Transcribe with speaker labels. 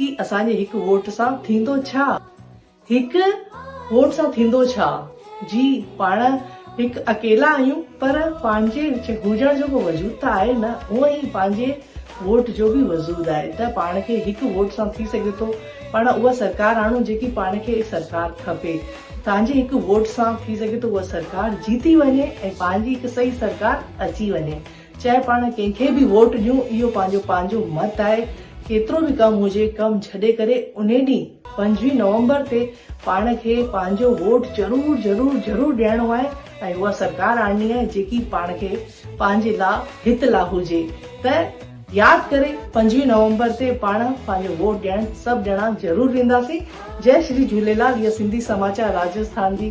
Speaker 1: هي اسان جي هڪ ووٽ سان ٿيندو ڇا؟ هڪ ووٽ سان ٿيندو ڇا؟ جي پاڻ هڪ اڪيلا آهيون پر پنهنجي هجڻ جو ڪو وجود ته آهي نه هونء ئي پنهنجي ووٽ جو به وجود آهي ته پاڻ کي هڪ ووٽ سان ٿي سگهي ٿو پاڻ اها سرڪار آڻون جيڪي پاڻ کي سرڪار کپي تانجي هڪ ووٽ سان ٿي سگهي ٿو اها سرڪار جيتي وڃي ۽ پنهنجي هڪ صحيح سرڪار اچي وڃي. چاهي پاڻ ڪنهن کي به ووٽ ڏيون اهو پنهنجو پنهنجو مت آهي ڪيترو به ڪم هجي ڪم ڇڏي ڪري انهي ڏينهن پنجويهه نومبر تي پاڻ کي پنهنجو ووٽ ضرور ضرور ضرور ڏيڻو آهي ۽ اها سرڪار آڻڻي آهي جيڪي پاڻ کي پنهنجي لا هت لا هجي ته ياد ڪري پنجويهه نومبر تي پاڻ پنهنجو ووٽ ڏيڻ سڀ ڄڻا ضرور وينداسين جئي شري جهوليلال اهي سنڌي سماچار راجسٿان جي.